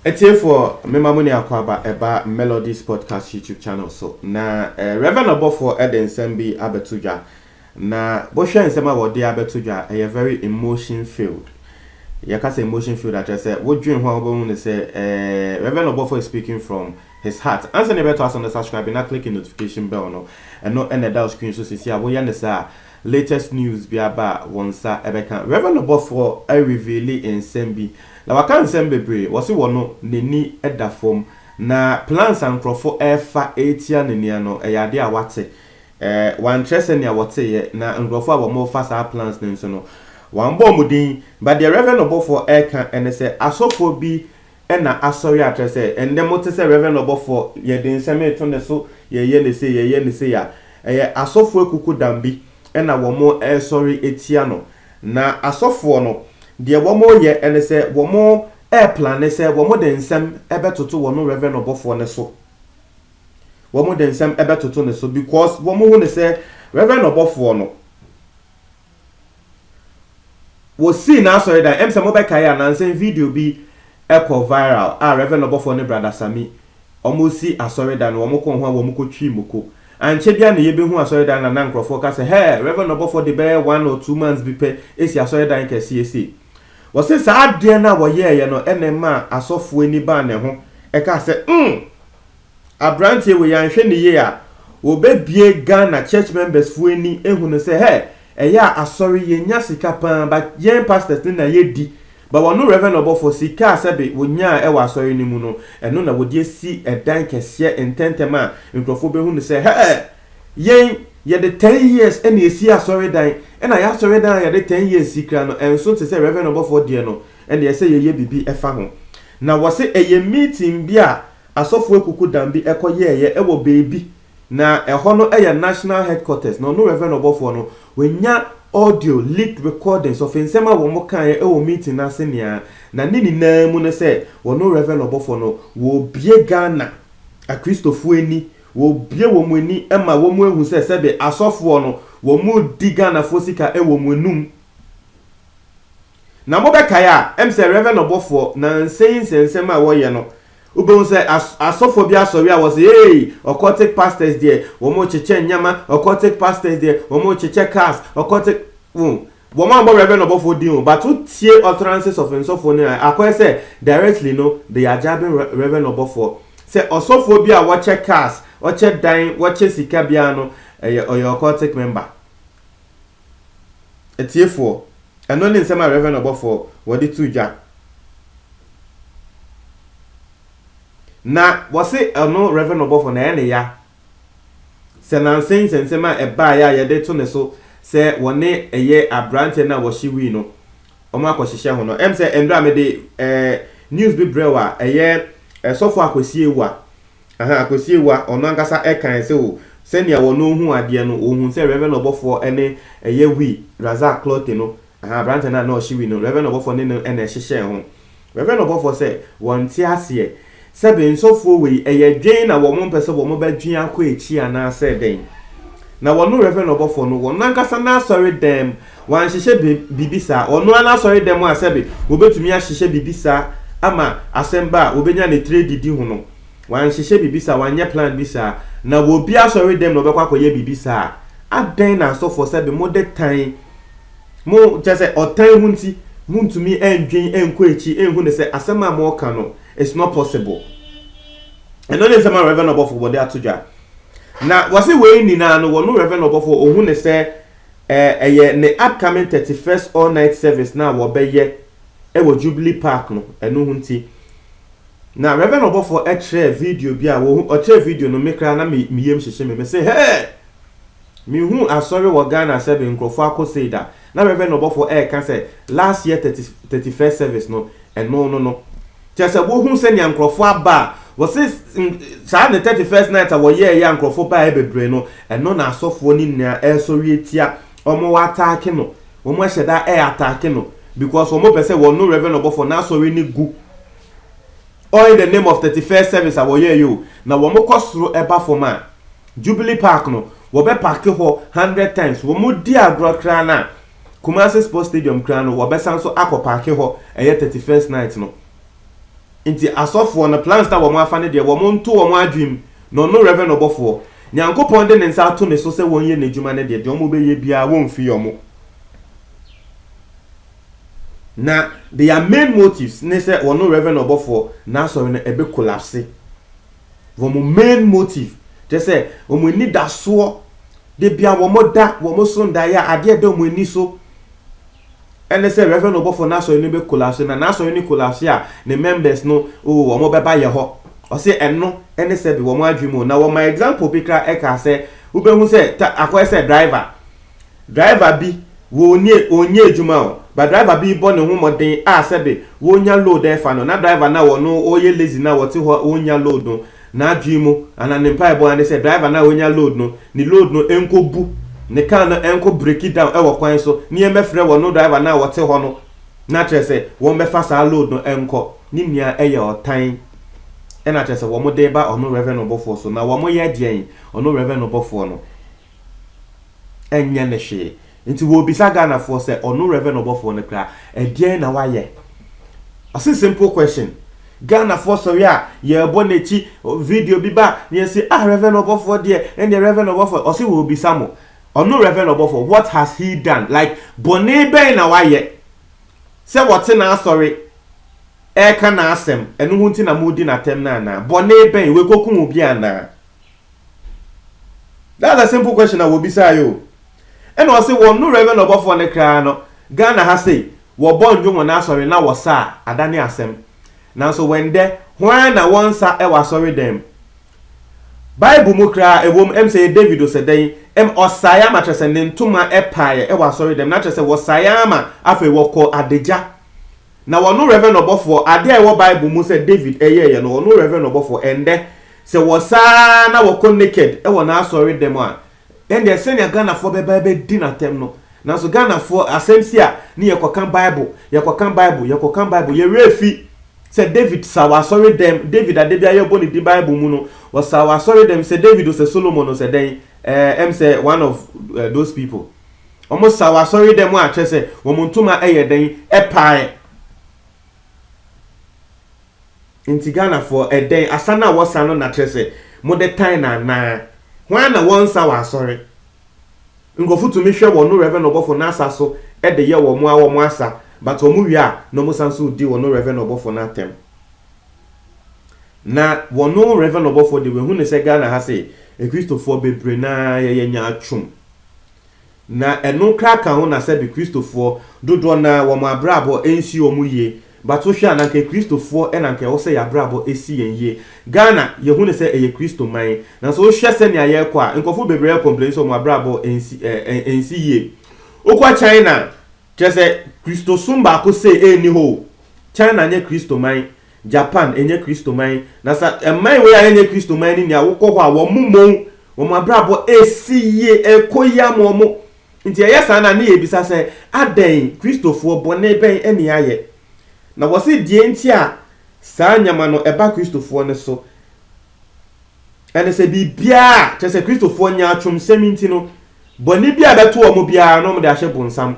Atiefoɔ, mema mo ne akwaaba ɛba Melodies Podcast YouTube channel so. Na eh, Reverend Ɔbɔfoɔ de nsɛm bi abɛto dwa. Na wohwɛ nsɛm a wɔde abɛto dwa a, ɛyɛ very emotion filled. Yɛka sɛ emotion filled a, kyerɛ sɛ wodwen ho a wobɛhu no sɛ Rev. Oborfoɔ is speaking from his heart. Ansa na yɛbɛtoa so no, subscribe na click notification bell no. Ɛno na ɛda wo screen so seesei a, woyɛ no saa a, latest news bi aba a, wo nsa bɛka. Rev. Oborfoɔ a reveale nsɛm bi, na waka nsɛm bebree. Wɔse wɔ no, n'ani da fam. Na plans a nkurɔfo refa retia ne nea no, ɛyɛ adeɛ a wate. Wɔankyerɛ sɛnea wɔteeɛ, na nkurɔfoɔ a wɔfa saa plans no nso no, wɔammɔ wɔn din. But deɛ Rev. Ɔbɔfoɔ reka ne sɛ, asɔfoɔ bi na asɔre akyerɛ sɛ, ɛnnɛ mote sɛ Rev. Ɔbɔfoɔ, yɛde nsɛm reto ne so, yɛreyɛ no sei, yɛreyɛ no sei a, ɛyɛ asɔfoɔ akukudam bi na wɔresɔre atia no. Na asɔfoɔ no, deɛ wɔreyɛ ne sɛ, wɔreplane sɛ wɔde nsɛm bɛtoto wɔn Rev. Ɔbɔfoɔ no so. wɔn de nsɛm bɛtoto ne so because wɔn hu ne sɛ Reverend ɔbɔfoɔ no wɔsii n'asɔredan ɛm sɛ mobɛkae a nansen video bi ɛkɔ viral a Reverend ɔbɔfoɔ ne Brada Sami wɔn si asɔredan no wɔn kɔɔ ho a wɔn kɔ twi moko ankyɛ bia na yɛbɛhu asɔredan na na nkorɔfoɔ ka sɛ hɛ Reverend ɔbɔfoɔ de bɛyɛ one or two months bi pɛ ɛsi asɔredan kɛseɛ sei wɔse saa adeɛ no a wɔyɛɛyɛ no ɛna ɛmaa asɔfoɔ ani baa ne ho ɛkaa sɛ mm Abranteɛ wei anhwɛ no yie a wɔbɛbie Ghana church members foɔ ani ahu no sɛ hɛ ɛyɛ a asɔre yɛnya sika paa but yɛn pastors no na yɛdi but wɔno Rev Ɔbɔfoɔ sika a sɛbe wɔnyaa ɛwɔ asɔre no mu no ɛno na wɔde asi ɛdan kɛseɛ ntɛntɛm a nkurɔfoɔ bɛhu no sɛ hɛ yɛn yɛde ten years na ɛsi asɔredan ɛna yɛn asɔredan a yɛde ten years si koraa no ɛnso te sɛ Rev Ɔbɔfoɔ deɛ no Ɛna ɛsɛ sɛ yɛyɛ biribi fa ho. Na wɔse ɛyɛ meeting bi a asɔfo akuku dan bi kɔ yɛɛeɛ wɔ baabi, na ɛhɔ no yɛ national headquarters, na ɔno Rev. Ɔbɔfoɔ no, wanya audio, leaked recordings, of nsɛm a wɔn kaeɛ wɔ meeting no ase nyinaa, na ne nyinaa mu ne sɛ ɔno Rev. Ɔbɔfoɔ no, wɔrebue Ghana akristofoɔ ani, wɔrebue wɔn ani ma wɔn ahu sɛ sɛbe asɔfoɔ no, wɔredi Ghanafoɔ sika wɔ wɔn anum. Na mobɛkae a, ɛm sɛ Rev. Ɔbɔfoɔ, nansa yi nsɛnsɛm a wɔyɛ no, wobɛhu sɛ as asɔfoɔ bi asɔre a wɔse eei, occultic pastors deɛ, wɔrekyekyɛ nneɛma, occultic pastors deɛ, wɔrekyekyɛ cars, occultic, wohu, wɔammɔ Rev. Ɔbɔfoɔ din o, but wotie utterances of nsɔfoɔ no a, akɔyɛ sɛ directly no, they are jabbing Rev. Ɔbɔfoɔ. Sɛ ɔsɔfoɔ bi a wɔkyɛ cars, ɔkyɛ dan, wɔkyɛ sika biara no, ɛyɛ, ɔyɛ occultic member. Atiefoɔ, ɛno ne nsɛm a Rev. Ɔbɔfoɔ wɔde too dwa. Na wɔse ɔno Rev. Ɔbɔfoɔ no ɛyɛ ne ya sɛ nansa yi nsɛnsɛm a ɛbaeɛ a yɛde to ne so sɛ wɔne ɛyɛ abranteɛ no a wɔhye wui no wɔn akɔhyehyɛ ho no, ɛm sɛ mmerɛ a mede ɛɛ news bi brɛw a ɛyɛ Sɔfo Akwasie Awuah Ahaa, Akosiewa, ɔno ankasa kae sɛ o, sɛnea wɔne ohuu adeɛ no, ohuu sɛ Rev. Ɔbɔfoɔ ne ɛyɛ Wi, Razak Clotte no, ahaa, aberanteɛ no a na ɔhye Wi no, Rev. Ɔbɔfoɔ ne no na ɛhyehyɛɛ ho. Rev. Ɔbɔfoɔ sɛ, Wɔnte aseɛ. Sɛbe nsɔfoɔ wei, ɛyɛ dwen na wɔmpɛ sɛ wɔbɛdwen akɔ akyi anaasɛ dɛn? Na wɔno Rev. Ɔbɔfoɔ no, wɔn ankasa n'asɔre dan mu, Wanhyehyɛ biribi saa. Ɔno ara n'asɔredɛm a sɛbe wɔbɛtumi ahyehyɛ biribi saa ama asɛm ba a wɔbɛnya ne tire adidi ho no, wanhyehyɛ biribi saa, wanyɛ plan bi saa. Na wɔ obi asɔredɛm na ɔbɛkɔ akɔyɛ biribi saa a, adɛn na asɔfoɔ sɛbe mode tan mo, kyerɛ sɛ ɔtan ho nti montumi ndwen nkɔ akyiri nhu no sɛ asɛm a moreka no it's not possible. Ɛno ne nsɛm a Rev. Ɔbɔfo wɔde ato dwa. Na wɔse wei nyinaa no wɔno Rev. Ɔbɔfo ɔhu no sɛ Eh, ɛyɛ ne upcoming thirty first all night service no a wɔbɛyɛ wɔ Jubilee Park no, ɛno ho nti. Na Reverend ɔbɔfoɔ kyerɛɛ video bi a wɔhu, ɔkyerɛɛ video no me koraa na me me yam hyehye me, me se hɛɛ! Menhuu asɔre wɔ Ghana sɛbe nkurɔfoɔ akɔ sei da. Na Reverend ɔbɔfoɔ ɛreka sɛ last year thirty thirty first service no, ɛno no no. Kyerɛ sɛ wohu sɛnea nkurɔfo aba a, wɔse saa ne Thirty First Night a wɔyɛeɛ a nkurɔfo baeɛ bebree no, ɛno na asɔfoɔ no nyinaa ɛresɔre atia, wɔataake no, wɔahyɛ da ataake no because wɔpɛ sɛ wɔno Rev Ɔbɔfoɔ n'asɔre no gu, all in the name of Thirty First Service a wɔyɛeɛ o, na wɔkɔ soro ba fam a, Jubilee Park no, wɔbɛpake hɔ hundred times, wɔdi agorɔ koraa no a. Kumasi Sports Stadium koraa no wɔbɛsan so akɔ paake hɔ ɛyɛ thirty first night no nti asɔfoɔ no plans na wɔn afa no deɛ wɔn nto wɔn adwene mu na ɔno Rev ɔbɔfoɔ Nyankopɔn de ne nsa ato ne so sɛ wɔn yɛ n'adwuma no deɛ deɛ wɔn bɛyɛ biara wɔn mfiri wɔn na their main motives ne sɛ ɔno Rev ɔbɔfoɔ n'asɔre no ɛbɛ collapse. wɔn main motive, kyerɛ sɛ wɔn anidasoɔ, da biara wɔn da, wɔn so ndaeɛ a adeɛ ɛda wɔn ani so ɛne sɛ Reverend Ɔbɔfoɔ n'asɔre no bɛ collapse, na n'asɔre no collapse a ne members no oo wɔn bɛba yɛ hɔ. Ɔse ɛno ɛne sɛbe wɔn adwene mu, na wɔmaa example bi koraa ɛkaa sɛ wobɛhu sɛ ta akɔyɛ sɛ driver Driver bi wɔ nie ɔnnyɛ adwuma o but driver bi bɔ ne ho mmɔden a sɛbe wɔnya load ɛfa no na driver no a ɔno ɔyɛ lazy no a ɔte hɔ ɔnnya load no n'adwene mu anaa ne mpaebɔ ara ne sɛ driver no a ɔnya load no ne load no nkɔ bu ne car no nkɔ breaki down ɛwɔ kwan so ne yɛn bɛfrɛ wɔ no driver no a ɔte hɔ no na kyerɛ sɛ wɔn bɛfa saa load no nkɔ ne nua ɛyɛ ɔtan ɛna kyerɛ sɛ wɔn de ba ɔno reverend ɔbɔfoɔ so na wɔn yɛ deɛn ɔno reverend ɔbɔfoɔ no ɛnyɛ no hwee. Nti wɔrebisa Ghanafoɔ sɛ ɔno Rev. Ɔbɔfoɔ no koraa ɛdeɛn na wayɛ? Ɔse simple question. Ghanafoɔ sɔre a yɛrebɔ n'akyi, video bi ba na yɛse ah Rev. Ɔbɔfoɔ deɛ, ɛnneɛ Rev. Ɔbɔfoɔ, ɔse wɔrebisa mo, ɔno Rev. Ɔbɔfoɔ what has he done? Like bɔne bɛn na wayɛ sɛ wɔte n'asɔre ɛreka n'asɛm, ɛno ho nti na moredi no atɛm no anaa? Bɔne bɛn? Wekɔkum obi anaa? That's a simple question a wɔbisaa yɛ o. Ɛna ɔse wɔn no Reverend ɔbɔfoɔ no koraa no, Ghana ha sei, wɔbɔ nnwom wɔ n'asɔre na wɔsa a, adane asɛm. Nanso wɛndɛ, hwan na wɔnsa wɔ asɔredan mu? Bible mu koraa ɛwom, ɛm sɛ yɛ David Osedɛn, ɛm ɔsaeɛ ama kyerɛ sɛ ne ntoma paeɛ wɔ asɔredan mu, na kyerɛ sɛ wɔsaeɛ ara ma afei wɔkɔɔ adagya Na ɔno Rev. Ɔbɔfoɔ, adeɛ a ɛwɔ Bible mu sɛ David yɛeɛ no, ɔno Rev. Ɔbɔfoɔ, ɛnnɛ, sɛ wɔsaa na wɔkɔ naked wɔ n'asɔre dɛm a, ɛndeɛ sɛnea Ghanafoɔ bɛba abɛdi no atɛm no, nanso Ghanafoɔ, asɛm si a ne yɛkɔka Bible, yɛkɔka Bible, yɛkɔka Bible, yɛn werɛ fi sɛ David saa wɔ asɔre dɛm, David a da biara yɛbɔ ne din Bible mu no, ɔsaa wɔ asɔre dɛm, sɛ David o, sɛ Solomon o, sɛ dɛn, ɛɛ, ɛm sɛ one of those people. Wɔn saw asɔredɛm a kyerɛ sɛ wɔn ntoma yɛ dɛn pae. Nti Ghanafoɔ ɛdɛn asa no a wɔsa no na kyerɛ sɛ mode tan no anaa? Hwan na wɔnsa wɔ asɔre? Nkurɔfo tumi hwɛ wɔn Rev ɔbɔfo no asa so de yɛ wɔn a wɔn asa but wɔn wie a na wɔn san so di wɔn Rev ɔbɔfo no atɛm. Na wɔn Rev ɔbɔfo de wɔahu no sɛ Ghana ha sei akristofoɔ bebree no ara yɛyɛ nyaatwom. Na ɛno koraa ka ho na sɛbe Kristofoɔ dodoɔ no ara wɔn abrabɔ nsi wɔn yie, but wo hwɛ a na anka Kristofoɔ na anka ɛwɔ sɛ yɛn abrabɔ si yɛn yie. Ghana yɛhu no sɛ ɛyɛ Kristo man, nanso wo hwɛ sɛnea yɛrekɔ a nkurɔfoɔ bebree re complain sɛ wɔn abrabɔ nsi eh, nsi yie. Wokɔ China, kyerɛ sɛ Kristosom baako sei nni hɔ o, China nyɛ Kristo man. Japan ɛnyɛ kristoman na sa ɛman wei a ɛnyɛ kristoman no nia wokɔ hɔ a wɔn mmɔn wɔn abrabɔ ɛsi yie ɛkɔ yie ama wɔn nti ɛyɛ saa no a ne yɛ bisa sɛ adɛn kristofoɔ bɔne bɛn ɛne yɛayɛ na wɔse deɛ nti a saa nneɛma no ɛba kristofoɔ no so ɛne sɛ biribiaa kyɛ sɛ kristofoɔ nyaatwom sɛm nti no bɔne bi a bɛto wɔn biara no wɔn de ahyɛ bonsam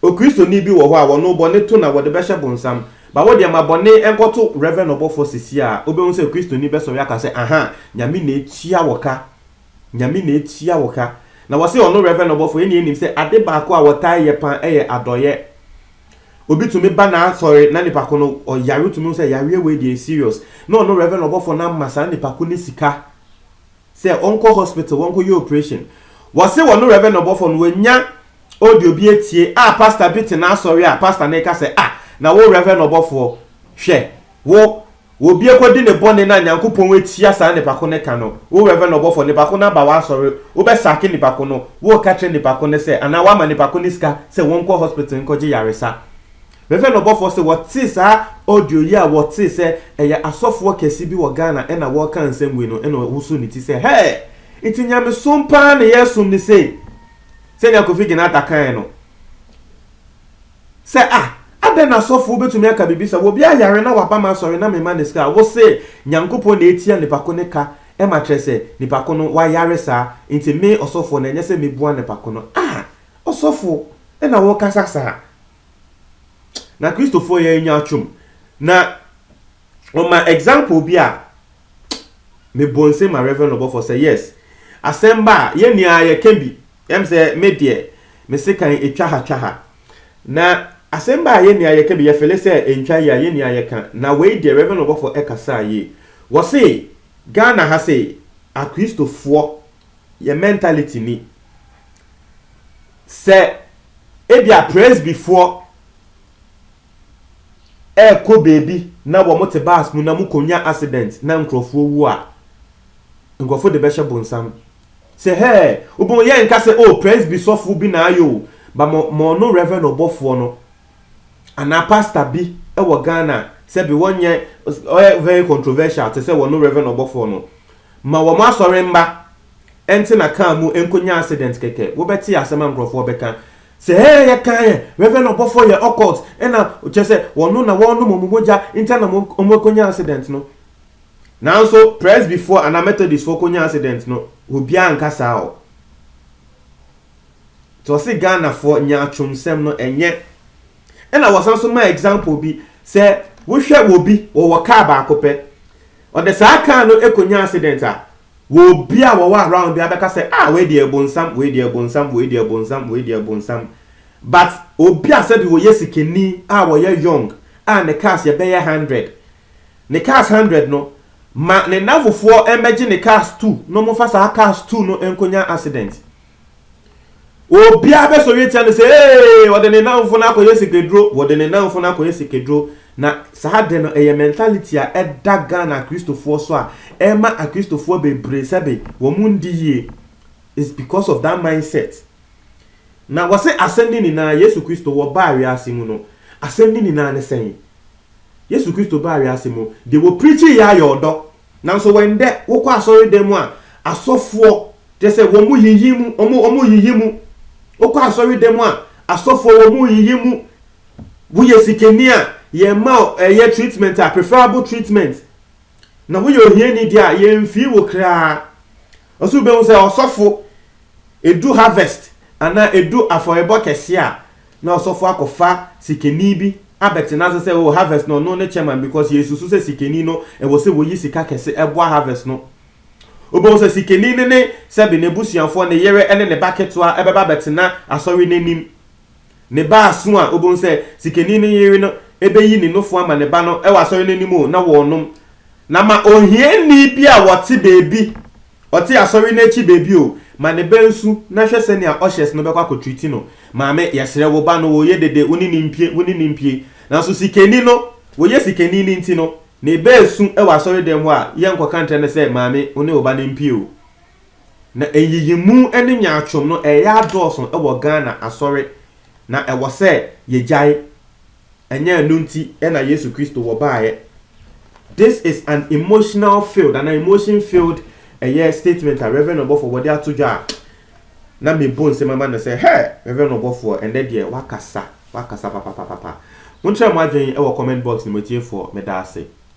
O Kristoni bi wɔ hɔ a wɔno bɔne to na wɔde bɛhyɛ bonsam. Ba wo deɛ ma bɔne nkɔto Rev. Ɔbɔfoɔ Sisi a wobɛhu sɛ Kristoni bɛsɔre aka sɛ aha, Nyame na atua wo ka, Nyame na atua wo ka. Na wɔse ɔno Rev. Ɔbɔfoɔ ɛnneɛ nim sɛ ade baako a wɔtaa yɛ paa ɛyɛ adɔeɛ. Obi tumi ba n'asɔre na nipa ko no ɔyare wotumi hu sɛ yareɛ wei deɛ ɛyɛ serious na ɔno Rev. Ɔbɔfoɔ no ama saa nipa ko no sika. sɛ ɔnkɔ hospital wɔnkɔ yɛ operation wɔse wɔne Rev no ɔbɔfoɔ no wɔnya audio bi atie a pastor bi te n'asɔre a pastor no reka sɛ ah na wo Rev no ɔbɔfoɔ hwɛ wo obi akɔdi ne bɔne na Nyankopɔn atia saa nipa ko no ka no wo Rev no ɔbɔfoɔ nipa ko no aba w'asɔre wobɛ sake nipa ko no woreka kyerɛ nipa ko no sɛ anaa woama nipa ko no sika sɛ wɔnkɔ hospital nkɔgye yaresa Mefrɛɛ no ɔbɔfoɔ sɛ wɔtee saa audio yi a wɔtee sɛ ɛyɛ asɔfoɔ kɛse bi wɔ Ghana ɛna wɔreka nsɛm wei no ɛna ɔwosoo ne ti sɛ hɛɛ nti nyamesom paa na yɛresom no sei sɛnea Kofi Genata kaeɛ no sɛ ah adɛn na asɔfoɔ bɛtumi aka biribi sɛ obi ayare na waba m'asɔre na mema no sika a wose Nyankopɔn na ɛtua nipa ko no ka ɛma kyerɛ sɛ nipa ko no wayare saa nti me ɔsɔfoɔ no ɛnyɛ sɛ mɛbua nipa ko no ah ɔsɔfo ɛna wokasa saa Na Kristofoɔ yɛ anya atwom. Na ɔma example bi a me bɔ nse ma Reverend Ɔbɔfoɔ sɛ yes asɛm ba a yɛn nyinaa yɛ ka bi. Yɛm sɛ me deɛ me sekan ɛtwa ha twa ha. Na asɛm ba a yɛn nyinaa yɛ ka bi yɛ fele sɛ ɛntwa yie a yɛn nyinaa yɛ ka. Na wei deɛ Reverend Ɔbɔfoɔ ɛkasaa yie. Wɔse Ghana ha sei akristofoɔ yɛ mentality ni. Sɛ ebia Presbyfoɔ rekɔ baabi na wɔte bus mu na mokɔnya accident na nkurɔfoɔ wu a, nkurɔfoɔ de bɛhyɛ bonsam sɛ, Hɛɛ, wobɛhu yɛrenka sɛ, Oh, Presby sɔfoɔ bi na ayɛ o, but mo, mo ɔno Reverend ɔbɔfoɔ no anaa pastor bi wɔ Ghana a, sɛbe wɔnyɛ, ɔyɛ very controversial te sɛ wɔno Reverend ɔbɔfoɔ no. Ma wɔn asɔre mma ɛnte na car mu ɛnkɔ nya accident kɛkɛ wo bɛte asɛm a nkorɔfoɔ bɛka sɛ hɛɛ yɛ kaa yɛ reverend ɔbɔfoɔ yɛ occult ɛna kyerɛ sɛ wɔno na wɔnom wɔn mogya ntia na wɔn ɛkɔ nya accident no nanso presbyfoɔ anaa methodist foɔ kɔ nya accident no obiara nka saa o nti ɔse Ghana foɔ nyaatwom sɛm no ɛnyɛ ɛna wɔsan so ma example bi sɛ wo hwɛ wɔ bi wɔwɔ car baako pɛ Ɔde saa car no kɔnya accident a, wɔbi a wɔwɔ around biara bɛka sɛ ah wei deɛ bonsam, wei deɛ bonsam, wei deɛ bonsam, wei deɛ bonsam. But obi a sɛbi ɔyɛ sikani a ɔyɛ young a ne cars yɛ bɛyɛ hundred, ne cars hundred no, ma ne nnamfofoɔ mmɛgye ne cars two na wɔmfa saa cars two no nkɔnya accident. Obiara bɛsɔre atia no sɛ, Ee, ɔde ne nnamfo no akɔyɛ sikaduro, wɔde ne nnamfo no akɔyɛ sikaduro. Na saa de no, ɛyɛ mentality a ɛda Ghana Akristofoɔ so a ɛma Akristofoɔ bebree sɛbe wɔn ndi yie. It's because of that mindset. Na wɔse asɛm no nyinaa, Yesu Kristo, wɔbaa wiase mu no, asɛm no nyinaa ne sɛn? Yesu Kristo baa wiase mu, deɛ wɔpirikyii yɛ ayɛ ɔdɔ, Nanso wɔ ndɛ, wokɔ asɔrdan mu a, asɔfoɔ, kyerɛ sɛ, wɔn mu yiyi mu, wɔn, wɔn yiyi mu. Wokɔ asɔrdan mu a, asɔfoɔ, wɔn mu yiyi mu. Woyɛ sikani a, yɛmma wo ɛyɛ treatment a, preferable treatment. Na woyɛ ohiani deɛ a, yɛnfii wo koraa. Nso wubehu sɛ ɔsɔfo, edu harvest anaa edu afɔrebɔ kɛse a, na ɔsɔfo akɔfa sikani bi abɛtena ase sɛ oh harvest no ɔno ne chairman because yɛresusu sɛ sikani no ɛwɔ sɛ woyi sika kɛse ɛboa harvest no. Wubehu sɛ sikani no ne sɛbe n'abusuafoɔ, ne yere ne ne ba ketewa ɛbɛba abɛtena asɔre no anim. Ne ba aso a obehu sɛ sikani no yere no beyi ne nufu ama ne ba no wɔ asɔre no anim o, na wɔrenom. Na ma ohiani bi a ɔte baabi, ɔte asɔre no akyi baabi o, ma ne ba nsu, na hwɛ sɛnea ushers no bɛkɔ akɔtreati no, Maame, yɛsrɛ wo ba no, wɔreyɛ dede, wo ne no mpue, wo ne no mpue. Nanso sikani no, wɔyɛ sikani no nti no, ne ba resu wɔ asɔredan mu a, yɛrenkɔka nkyerɛ no sɛ, Maame, wo ne wo ba no mpue o. Na nyiyimu ne nyaatwom no ɛreyɛ adɔɔso wɔ Ghana asɔre na ɛwɔ sɛ yɛgyae, ɛnyɛ ɛno nti na Yesu Kristo wɔ baeɛ. This is an emotional filled anaa emotion filled ɛyɛ statement a Rev. Ɔbɔfoɔ wɔde ato dwa a na mebu nsɛm ama no sɛ hɛ! Rev. Ɔbɔfoɔ ɛnnɛ deɛ woakasa, woakasa papapapapa. Monkyerɛ mo adwene wɔ comment box no mu atiefoɔ, meda ase.